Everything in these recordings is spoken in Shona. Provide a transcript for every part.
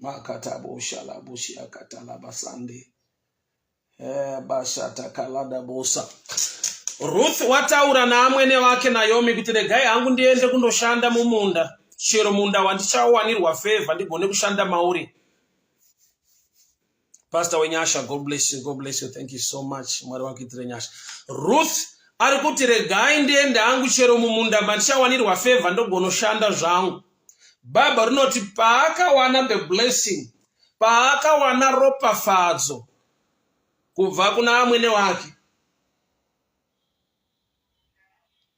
makataboshalabushakatalabasande eh, bashatakalabosa Ruth wataura naamwene wake Naomi kuti regai hangu ndiende kundoshanda mumunda chero munda wandichawanirwa favor ndigone kushanda mauri Pastor Wenyasha, God bless you, God bless you. Thank you so much. Mwari wakuitire nyasha. Ruth ari kuti regai ndiende hangu chero mumunda mandichawanirwa favor ndogonoshanda zvangu. Bhaibheri rinoti paakawana the blessing, paakawana ropafadzo kubva kuna amwene wake.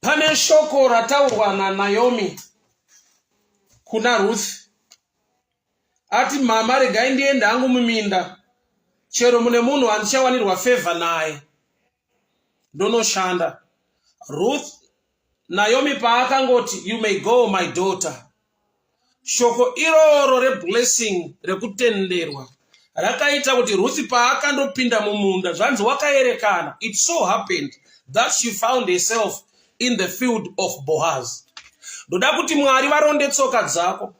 Pane shoko rataurwa naNaomi kuna Ruth ati mama regai ndiende hangu muminda chero mune munhu handichawanirwa favor naye ndonoshanda Ruth Naomi paakangoti you may go my daughter Shoko iroro reblessing rekutenderwa rakaita kuti Ruth paakandopinda mumunda zvanzi wakaerekana it so happened that she found herself in the field of Boaz. Ndoda kuti Mwari varonde tsoka dzako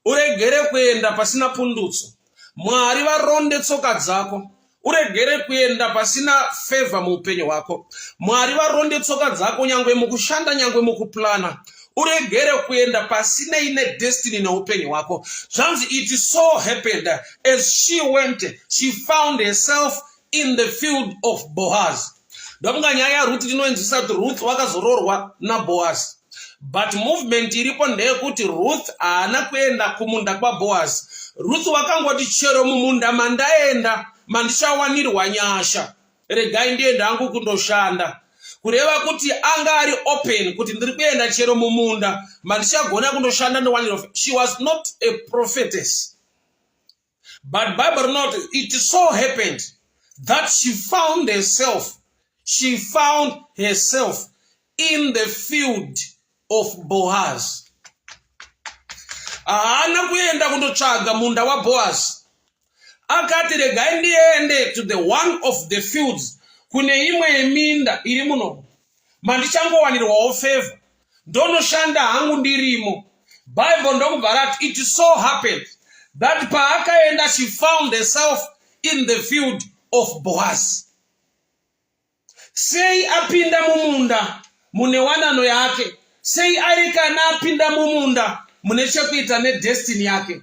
uregere kuenda pasina pundutso. mwari varonde tsoka dzako uregere kuenda pasina favor muupenyu hwako mwari varonde tsoka dzako nyangwe mukushanda nyangwe mukuplana uregere kuenda pasinei nedestiny neupenyu hwako zvanzi it so happened as she went she found herself in the field of boaz ndokunga nyaya yaruti tinoinzwisa kuti ruth wakazoroorwa naboaz but movement iripo ndeyekuti ruth haana kuenda kumunda kwaboaz ruth wakangoti chero mumunda mandaenda mandichawanirwa nyasha regai ndienda angu kundoshanda kureva kuti anga ari open kuti ndiri kuenda chero mumunda mandichagona kundoshanda ndowanirwa she was not a prophetess but bible rinoti it so happened that she found herself she found herself in the field of boaz haana kuenda kundotsvaga munda waboaz akati regai ndiende to the one of the fields kune imwe yeminda iri muno mandichangowanirwawo favor ndonoshanda hangu ndirimo bible ndokubva rati it so happened that paakaenda she found herself in the field of boaz sei apinda mumunda mune wanano yake sei ari kana apinda mumunda mune chekuita nedestini yake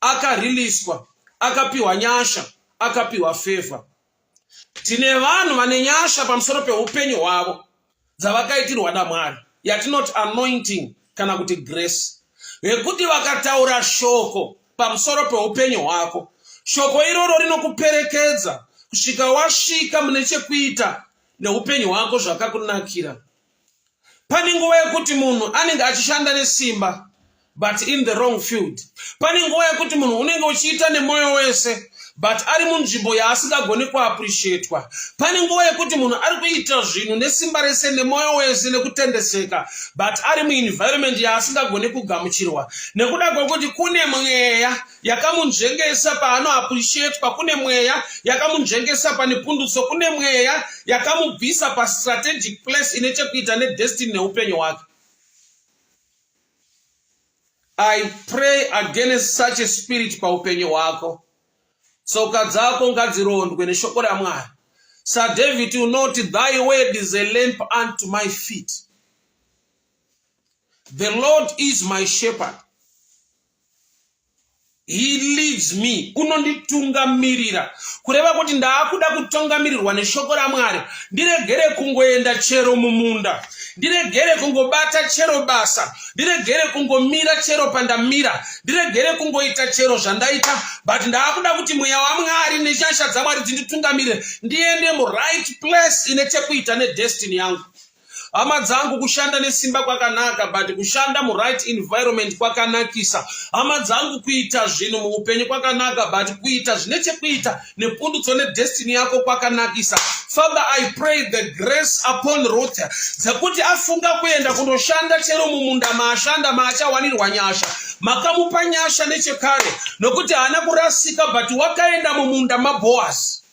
akariliswa akapiwa nyasha akapiwa favor tine vanhu vane nyasha pamusoro peupenyu hwavo dzavakaitirwa namwari yatinoti anointing kana kuti grace vekuti vakataura shoko pamusoro peupenyu hwako shoko iroro rinokuperekedza kusvika wasvika mune chekuita neupenyu hwako zvakakunakira pane nguva yekuti munhu anenge achishanda nesimba but in the wrong field pane nguva yekuti munhu unenge uchiita nemwoyo wese but ari munzvimbo yaasingagoni kuappreciatwa pane nguva yekuti munhu ari kuita zvinhu nesimba rese nemwoyo wese nekutendeseka but ari muenvironment yaasingagoni kugamuchirwa nekuda kwekuti kune mweya yakamunzvengesa paano appreciatwa kune mweya yakamunzvengesa pane pundutso kune mweya yakamubvisa pastrategic place ine chekuita nedestiny neupenyu hwake i pray against such a spirit paupenyu hwako tsoka dzako ngadzirondwe neshoko ramwari sir david unoti thy word is a lamp unto my feet the lord is my shepherd he leads me unonditungamirira kureva kuti ndaakuda kutongamirirwa neshoko ramwari ndiregere kungoenda chero mumunda ndiregere kungobata chero basa ndiregere kungomira chero pandamira ndiregere kungoita chero zvandaita but ndaakuda kuti mweya wamwari neshasha dzamwari dzinditungamirire ndiende muright place ine chekuita nedestiny yangu hama dzangu kushanda nesimba kwakanaka but kushanda muright environment kwakanakisa hama dzangu kuita zvinhu muupenyu kwakanaka but kuita zvine chekuita nepundutso nedestiny yako kwakanakisa father i pray the grace upon ruth dzekuti afunga kuenda kunoshanda chero mumunda maashanda maachawanirwa nyasha makamupa nyasha nechekare nokuti haana kurasika but wakaenda mumunda maboasi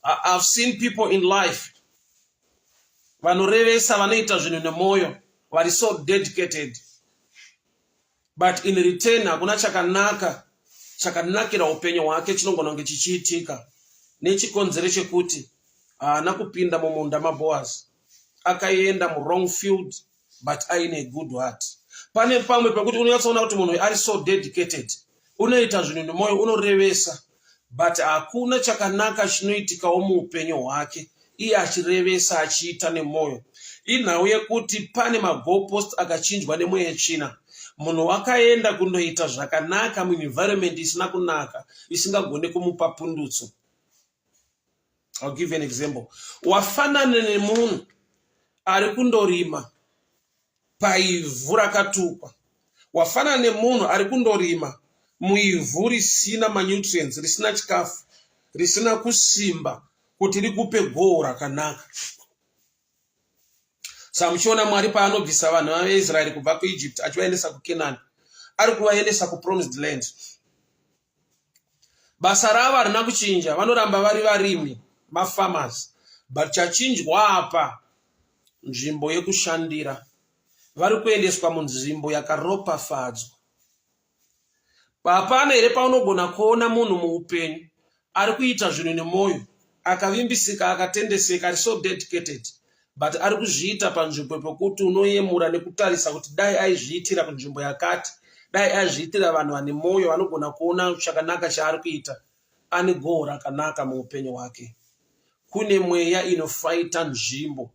I've seen people in life vanorevesa vanoita zvinhu nemwoyo vari so dedicated but in return hakuna chakanaka chakanakira upenyu hwake chinongona kunge chichiitika nechikonzero chekuti haana kupinda mumunda maboaz akaenda murong field but aine good heart pane pamwe pekuti unonyatsoona kuti munhu ari so dedicated unoita zvinhu nemwoyo unorevesa but hakuna chakanaka chinoitikawo muupenyu hwake iye achirevesa achiita nemwoyo inhau yekuti pane magopost akachinjwa nemweya china munhu wakaenda kunoita zvakanaka muenvironment isina kunaka isingagone kumupa pundutso I'll give an example wafanana nemunhu ari kundorima paivhu rakatukwa wafanana nemunhu ari kundorima muivhu risina manutrients risina chikafu risina kusimba kuti rikupe goho rakanaka sa muchiona mwari paanobvisa vanhu vaisraeri kubva kuegypt achivaendesa kukenani ari kuvaendesa kupromised land basa ravo harina kuchinja vanoramba vari varimi mafarmers but chachinjwa apa nzvimbo yekushandira vari kuendeswa munzvimbo yakaropafadzwa hapana here paunogona kuona munhu muupenyu ari kuita zvinhu nemwoyo akavimbisika akatendeseka ari so dedicated but ari kuzviita panzvimbo pekuti unoyemura nekutarisa kuti dai aizviitira kunzvimbo yakati dai aizviitira vanhu vane mwoyo vanogona kuona chakanaka chaari kuita ane goho rakanaka muupenyu hwake kune mweya inofaita nzvimbo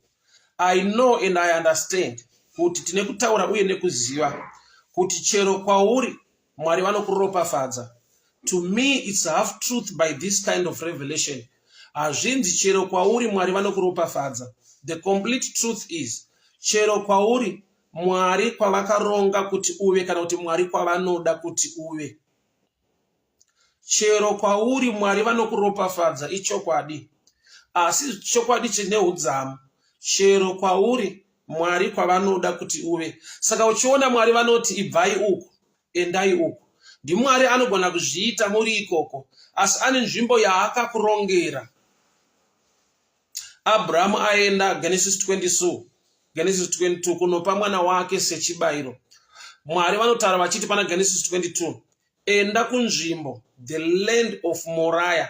i know and i understand kuti tine kutaura uye nekuziva kuti chero kwauri mwari vanokuropafadza to me its half truth by this kind of revelation hazvinzi chero kwauri mwari vanokuropafadza the complete truth is chero kwauri mwari kwavakaronga kuti uve kana kuti mwari kwavanoda kuti uve chero kwauri mwari vanokuropafadza ichokwadi asi chokwadi chine udzamu chero kwauri mwari kwavanoda kuti uve saka uchiona mwari vanoti ibvai uku endai uku ndimwari anogona kuzviita muri ikoko asi ane nzvimbo yaakakurongera abrahamu aenda genesis 22 genesis 22 kunopa mwana wake sechibayiro mwari vanotaura vachiti pana genesis 22 enda kunzvimbo the land of moriah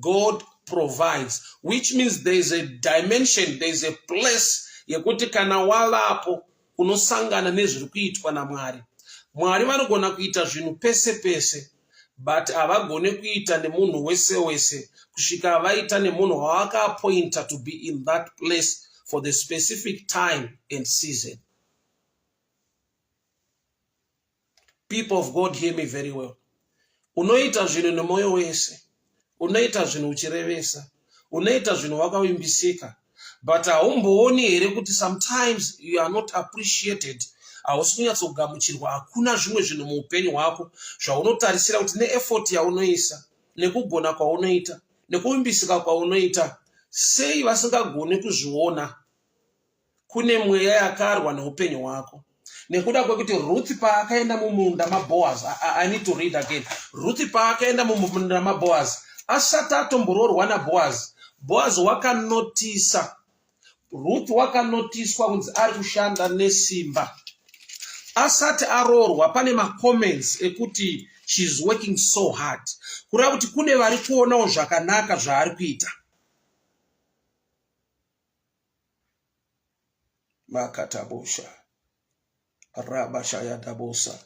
God provides which means there is a dimension there is a place yekuti kana wavapo unosangana nezviri kuitwa naMwari. Mwari vanogona kuita zvinhu pese pese but havagone kuita nemunhu wese wese kusvika vaita nemunhu wavakaapointa to be in that place for the specific time and season. people of god hear me very well unoita zvinhu nemwoyo wese unoita zvinhu uchirevesa unoita zvinhu wakavimbisika but haumbooni here kuti sometimes you are not appreciated hausi kunyatsogamuchirwa hakuna zvimwe zvinhu muupenyu hwako zvaunotarisira kuti neefort yaunoisa nekugona kwaunoita nekuvimbisika kwaunoita sei vasingagoni kuzviona kune mweya yakarwa neupenyu hwako nekuda kwekuti ruth paakaenda mumunda maboaz i need to read again ruth paakaenda mumunda maboaz asati atomboroorwa naboaz boaz wakanotisa ruth wakanotiswa kunzi ari kushanda nesimba asati aroorwa pane macomments ekuti sheis working so hard kureva kuti kune vari kuonawo zvakanaka zvaari kuita makatabosha rabashayadabosa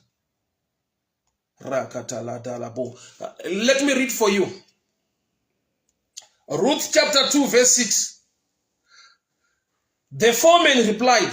rakataladalabo let me read for you ruth chapter 2 verse 6 the foreman replied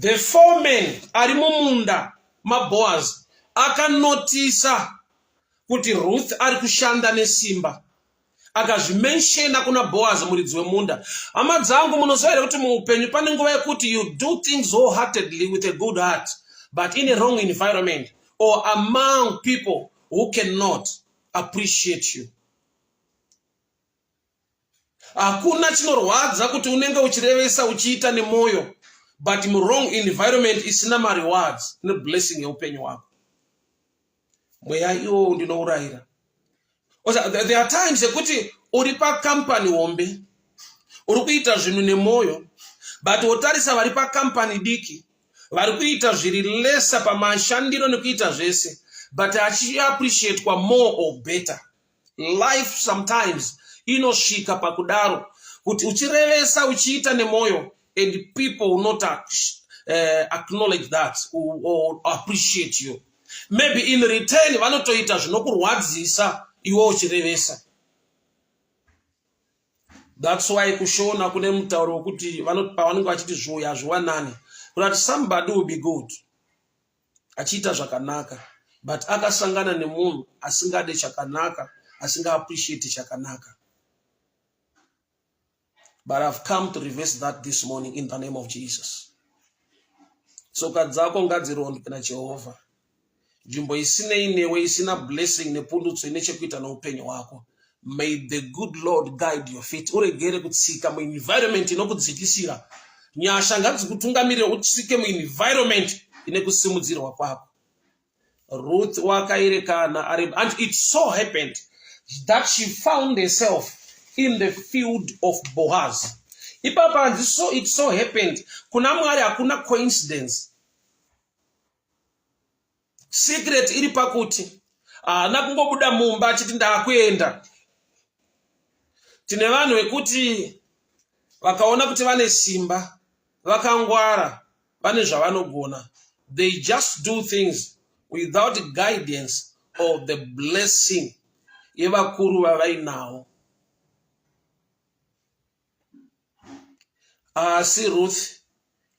the foreman ari mumunda maboaz akanotisa kuti ruth ari kushanda nesimba akazvimenshena kuna boaz muridzi wemunda hama dzangu munoziva here kuti muupenyu pane nguva yekuti you do things wholeheartedly with a good heart but in a wrong environment or among people who cannot appreciate you hakuna chinorwadza kuti unenge uchirevesa uchiita nemwoyo but murong environment isina marewards neblessing yeupenyu hwako mweya iwowo ndinourayira there are times ekuti uri pakampani hombe uri kuita zvinhu nemwoyo but wotarisa vari pakampani diki vari kuita zviri lesa pamashandiro nekuita zvese but achiappreciatwa more or better life sometimes inosvika pakudaro kuti uchirevesa uchiita nemwoyo and people will not uh, acknowledge that or, or appreciate you maybe in return vanotoita zvinokurwadzisa iwe uchirevesa that's why kushona kune mutauro wekuti pavanenge vachiti zvoya zvowanani kuti somebody will be good achiita zvakanaka but akasangana nemunhu asingade chakanaka asinga appreciate chakanaka but i've come to reverse that this morning in the name of jesus tsoka dzako ngadzirondwe najehovha nzvimbo isinei newe isina blessing nepundutso ine chekuita neupenyu hwako may the good lord guide your feet uregere kutsika muenvironment inokudzikisira nyasha ngadzikutungamirire utsike muenvironment ine kusimudzirwa kwako ruth wakaerekana ari and it so happened that she found herself in the field of boaz ipapa hanzi so it so happened kuna mwari hakuna coincidence secret iri pakuti haana kungobuda mumba achiti ndaakuenda tine vanhu vekuti vakaona kuti vane simba vakangwara vane zvavanogona they just do things without guidance or the blessing yevakuru vavainawo asi ruth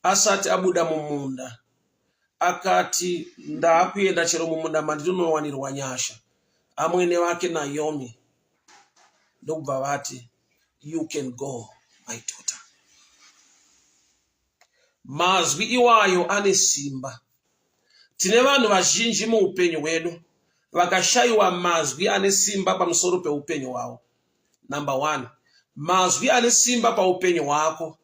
asati abuda mumunda akati ndaakuenda chero mumunda mandinowanirwa nyasha amwene vake naomi ndokubva vati you can go my daughter mazwi iwayo ane simba Tine vanhu vazhinji muupenyu hwedu vakashaiwa mazwi ane simba pamusoro peupenyu hwavo. Number one, mazwi ane simba paupenyu hwako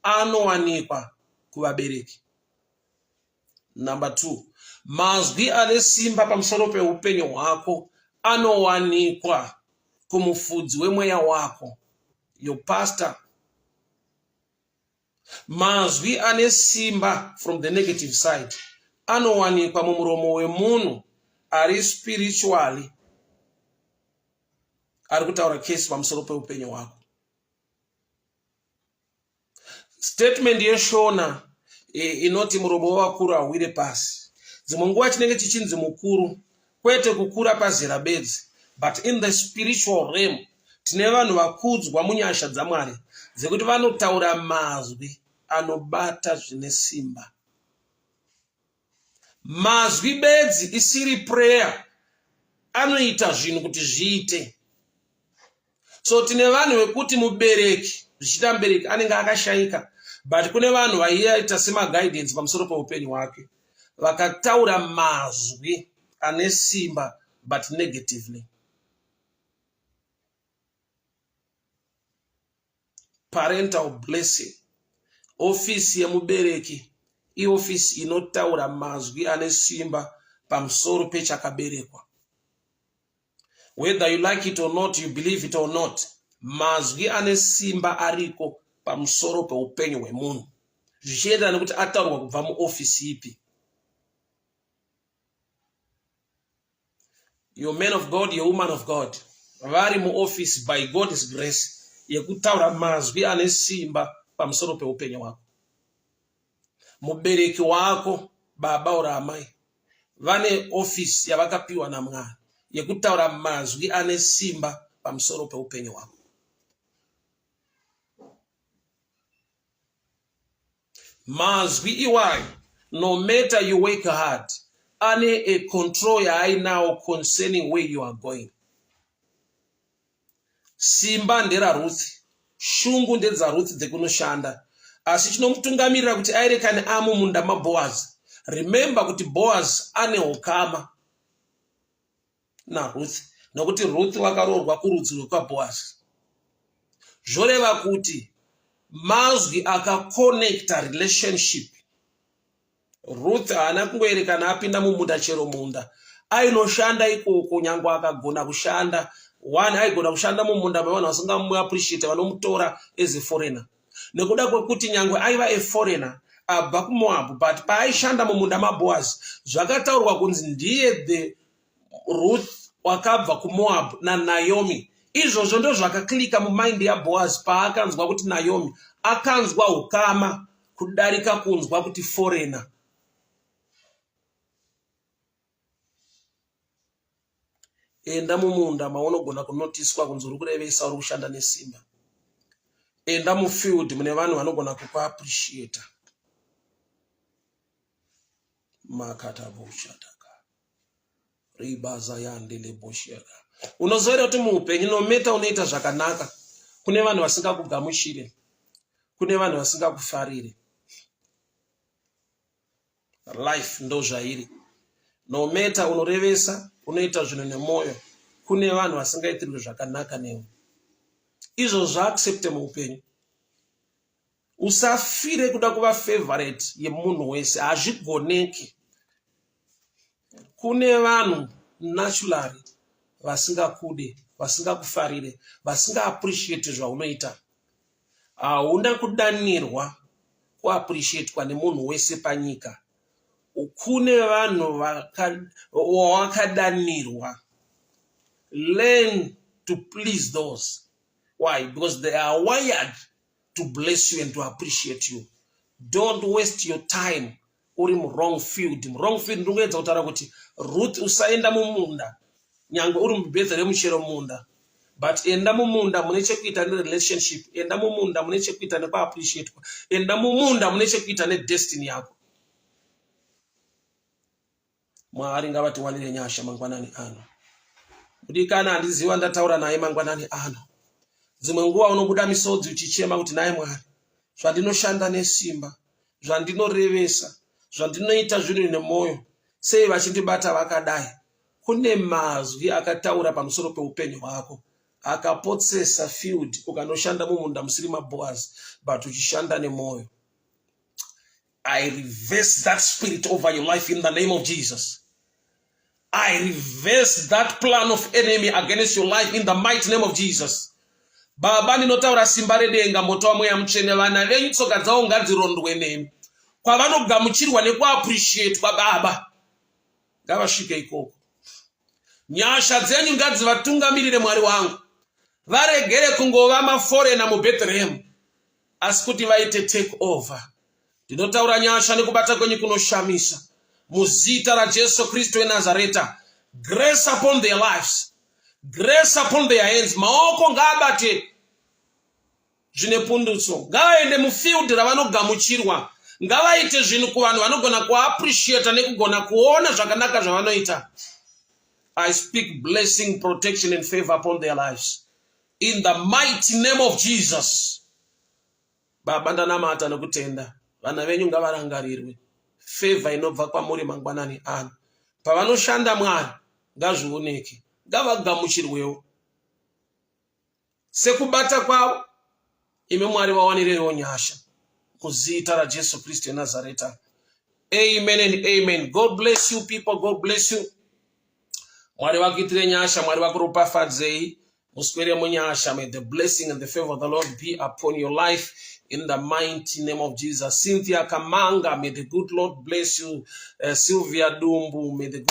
anowanikwa kuvabereki. Number two, mazwi ane simba pamusoro peupenyu hwako anowanikwa kumufudzi wemweya wako, your pastor Mazwi ane simba from the negative side anowanikwa mumuromo wemunhu ari spiritually ari kutaura case pamusoro peupenyu hwako. Statement yeshona inoti murobo wavakuru hauwire pasi dzimwe nguva chinenge chichinzi mukuru kwete kukura pazera bedzi but in the spiritual realm tine vanhu vakudzwa munyasha dzamwari dzekuti vanotaura mazwi anobata zvine simba mazwi bedzi isiri prayer anoita zvinhu kuti zviite so tine vanhu vekuti mubereki zvichiita mubereki anenge akashaika but kune vanhu vaiita semaguidance pamusoro peupenyu hwake vakataura mazwi ane simba but negatively parental blessing ofisi yemubereki iofisi inotaura mazwi ane simba pamusoro pechakaberekwa whether you like it or not you believe it or not mazwi ane simba ariko pamusoro peupenyu hwemunhu zvichienderana nekuti ataurwa kubva muofisi ipi your man of god your woman of god vari muofisi by god's grace yekutaura mazwi ane simba pamusoro peupenyu hwako mubereki wako baba or amai vane ofisi yavakapiwa namwari yekutaura mazwi ane simba pamusoro peupenyu hwako mazwi iwayo no matter you work hard ane a control yaainawo concerning where you are going simba nderarutsi shungu ndedzarutsi dzekunoshanda asi chinomutungamirira kuti aerekane amo munda maboaz remember kuti boaz ane ukama naruth nokuti ruth wakaroorwa kurudzi rwekwaboaz zvoreva kuti mazwi akakonecta relationship ruth haana kungoerekana apinda mumunda chero munda ainoshanda ikoko nyange akagona kushanda one aigona kushanda mumunda mevanhu vasingamuappreciate vanomutora as a foreigner nekuda kwekuti nyange aiva a foreigner abva kumoab but paaishanda mumunda maboas zvakataurwa kunzi ndiye the ruth wakabva kumoab nanaomi izvozvo ndozvakaklika mumaindi yaboaz paakanzwa kuti naomi akanzwa ukama kudarika kunzwa kuti forena enda mumunda maunogona kunotiswa kunzi uri kurevesa uri kushanda nesimba enda mufield mune vanhu vanogona kukuappreciata makatabushata ribaza yandele bosheka unozoita kuti muupenyu nometa unoita zvakanaka kune vanhu vasingakugamuchire kune vanhu vasingakufarire life ndozvairi nometa unorevesa unoita zvinhu nemwoyo kune vanhu vasingaitirwe zvakanaka newe izvo zvaaccepte muupenyu usafire kuda kuva favorite yemunhu wese hazvigoneki kune vanhu naturally vasingakude vasingakufarire vasingaappreciate zvaunoita hauna kudanirwa kuappreciatwa nemunhu wese panyika kune vanhu wawakadanirwa learn to please those why because they are wired to bless you and to appreciate you don't waste your time uri muwrong field muwrong field ndingoedza kutaura kuti ruth usaenda mumunda nyange uri mubedha remuchero munda but enda mumunda mune chekuita nerelationship enda mumunda mune chekuita nekuappreciatwa enda mumunda mune chekuita nedestiny yako mwari ngavatiwanire nyasha mangwanani ano mudikana handiziva ndataura naye mangwanani ano dzimwe nguva unobuda misodzi uchichema kuti naye mwari zvandinoshanda nesimba zvandinorevesa zvandinoita zviri nemwoyo sei vachindibata vakadai kune mazwi akataura pamusoro peupenyu hwako akapotsesa field ukanoshanda mumunda musiri maboas but uchishanda nemwoyo I reverse that spirit over your life in the name of Jesus. I reverse that plan of enemy against your life in the mighty name of Jesus. Baba ndinotaura simba redenga moto wamweya mutsvene vana venyu tsoka dzavo ngadzirondwe nemi kwavanogamuchirwa nekuappreciatwa baba ngavasvike ikoko nyasha dzenyu ngadzivatungamirire mwari wangu varegere kungova maforena mubethlehemu asi kuti vaite take over ndinotaura nyasha nekubata kwenyu kunoshamisa muzita rajesu kristu wenazareta grace upon their lives grace upon their hands maoko ngaabate zvine pundutso ngavaende mufield ravanogamuchirwa ngavaite zvinhu kuvanhu vanogona kuappreciata nekugona kuona zvakanaka zvavanoita i speak blessing protection and favor upon their lives in the mighty name of jesus baba ndanamata nokutenda vana venyu ngavarangarirwe fevha inobva kwamuri mangwanani ano pavanoshanda mwari ngazvioneke ngavagamuchirwewo sekubata kwavo imi mwari vawanireiwo nyasha muzita rajesu kristu enazareta amen and amen god bless you people god bless you mwari vakuitire nyasha mwari vakuropafadzei muswere munyasha may the blessing and the favor of the lord be upon your life in the mighty name of jesus cynthia kamanga may the good lord bless you uh, sylvia dumbu may the good